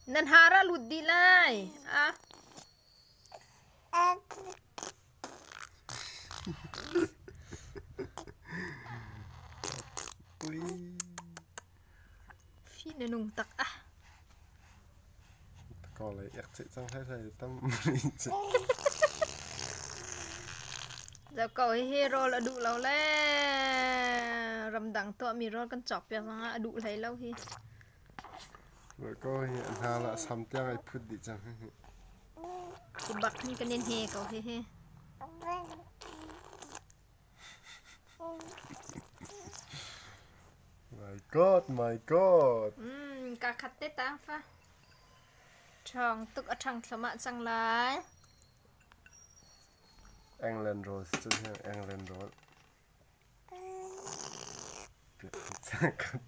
Na hnar a lut dih lai. Hi na nung tak ah. Kawlei ek ceih cang hleihlei a tam rih cang. Ko hihi rawl a duh lo le ramdang tuahmi rawl kan cawk piak cang ah a duh hlei lo hi. Ko hi hna la sam tiang ai phut dih cang hihi. Hi bak hi kan in he ko hihi. Kaa khat te taang fa. Ṭhawng tuk a ṭhang thlomah cang lai. England rawl cun hi England rawl. Cak khat.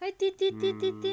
Hei ti ti ti ti ti.